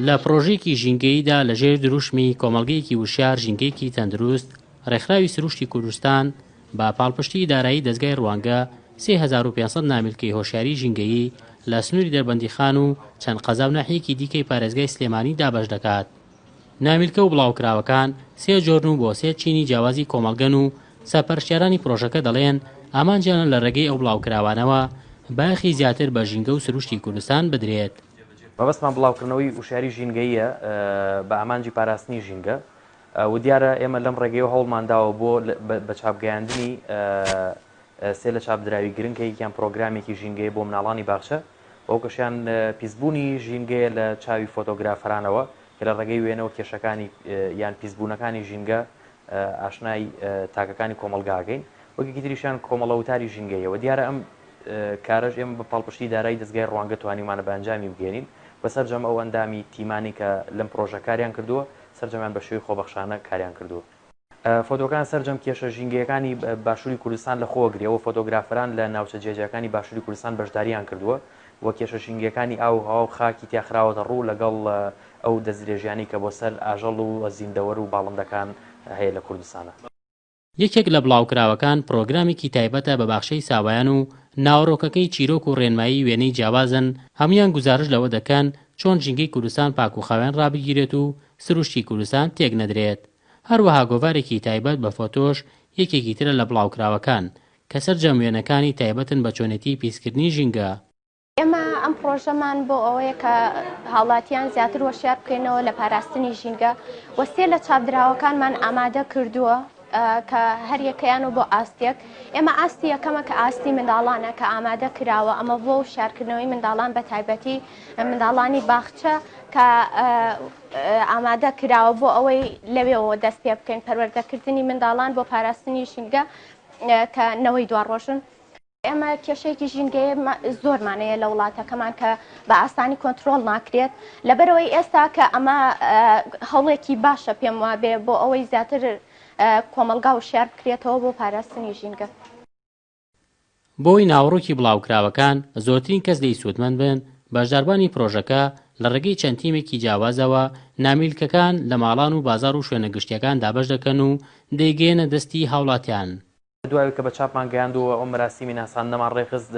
لە پرۆژێکی ژینگەییدا لە ژێر دروشمی کۆمەلگەیەکی وشار ژینگەیەکی تەندروست ڕێکخراوی سروشتی کوردستان بە پاڵپشتی دارایی دەستگای ڕوانگە 3500 نامیلکەی هۆشیاری ژینگەیی لە سنووری دەربەندیخان و چەند قەزا و ناحیەکی دیکەی پارێزگای سلێمانی دابەش دەکات. نامیلکە و بڵاوکراوەکان سێ جۆرن و بۆ سێ چینی جیاوازی کۆمەڵگەن و سەرپەرشتیارانی پرۆژەکە دەڵێن ئامانجیانە لە رێگەی ئەو بڵاوکراوانەوە بایەخی زیاتر بە ژینگە و سروشتی کوردستان بدرێت. مەبەستمان بڵاوکردنەوەی وشیاری ژینگەییە بە ئامانجی پاراستنی ژینگە و دیارە ئێمە لەم رێگەیەوە هەوڵمان داوە بۆ بە چاپ گەیاندنی سێ لە چاپدراوی گرنگ کە یەکیان پرۆگرامێکی ژینگەیە بۆ مناڵانی باخچە و ئەو کەشیان پیسبوونی ژینگەیە لە چاوی فۆتۆگرافەرانەوە کە لە ڕێگەی وێنەوە کێشەکانی یان پیسبوونەکانی ژینگە ئاشنای تاکەکانی کۆمەڵگاکەین وەکێکی تریشیان کۆمەڵە وتاری ژینگەیەوە دیارە ئەم کارەش ئێمە بە پاڵپشتی دارایی دەستگای ڕوانگە توانیمانە بە ئەنجامی بگەێنین و سەرجەم ئەو ئەندامی تیمانی کە لەم پرۆژە کاریان کردووە سەرجەمیان بە شێوی خۆبەخشانە کاریان کردووە فۆتۆکان سەرجەم کێشە ژینگەیەکانی باشووری کوردستان لەخۆوە گرێ و فۆتۆگرافەران لە ناوچە جیاجیاکانی باشووری کوردستان بەشدارییان کردووە و کێشە ژینگەکانی ئاو و هەوا و خاکی تیا خراوەتە ڕوو لەگەڵ ئەو دەستدرێژیانەی کە بۆ سەر ئاژەڵ و زیندەوەر و باڵندەکان هەیە لە کوردستان. یەکێک لە بڵاوکراوەکان پڕۆگرامێکی تایبەتە بە باخچەی ساوایان و ناوەڕۆکەکەی چیرۆک و ڕێنمایی وێنەی جیاوازن، هەموویان گوزارشت لەوە دەکەن چۆن ژینگەی کوردستان پاک و خاوێن ڕابگیرێت و سروشتی کوردستان تێک نەدرێت. هەروەها گۆڤارێکی تایبەت بە فۆتۆش یەکێکی ترە لە بڵاوکراوەکان، کە سەرجەم وێنەکانی تایبەتن بە چۆنێتیی پیسکردنی ژینگە. ئێمە ئەم پڕۆژەمان بۆ ئەوەیە کە هاوڵاتیان زیاتر هۆشیار بکەینەوە لە پاراستنی ژینگە و سێ لە چاپدراوەکانمان ئامادە کردووە کە هەر یەکەیان و بۆ ئاستێک ئێمە ئاستی یەکەمە کە ئاستی منداڵانە کە ئامادە کراوە ئەمە بۆ وشیارکردنەوەی منداڵان بە تایبەتی منداڵانی باخچە کە ئامادە کراوە بۆ ئەوەی لەوێەوە دەست پێ بکەین پەروەردەکردنی منداڵان بۆ پاراستنی ژینگە کە نەوەی دواڕۆژن. ئێمە کێشەیەکی ژینگەیە زۆرمانەیە لە وڵاتەکەمان کە بە ئاسانی کۆنتترۆل ناکرێت لەبەرەوەی ئێستا کە ئەمە هەوڵێکی باشە پێم وابێ بۆ ئەوەی زیاتر کۆمەلگا و شار بکرێتەوە بۆ پاراستنی ژینگە. بۆی ناوەڕۆکی بڵاوکراوەکان زۆرترین کەس لێی سوودمەند بن، بەشداربانی پرۆژەکە لە ڕێگەی چەند تیمێکی جیاوازەوە نامیلکەکان لە ماڵان و بازاڕ و شوێنە گشتییەکان دابەش دەکەن و دەیگەیەنە دەستی هاوڵاتیان. لە دوایەوەی کە بە چاپمان گەیاندووە ئەو مەراسیمی ناساندنەمان ڕێکخست،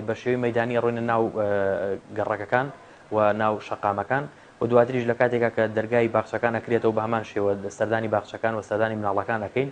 بە شێوەی مەیدانی ئەڕۆینە ناو گەڕەکەکان و ناو شەقامەکان و دواتریش لە کاتێکا کە دەرگای باخچەکان ئەکرێتەوە بە هەمان شێوە سەردانی باخچەکان و سەردانی مناڵەکان ئەکەین.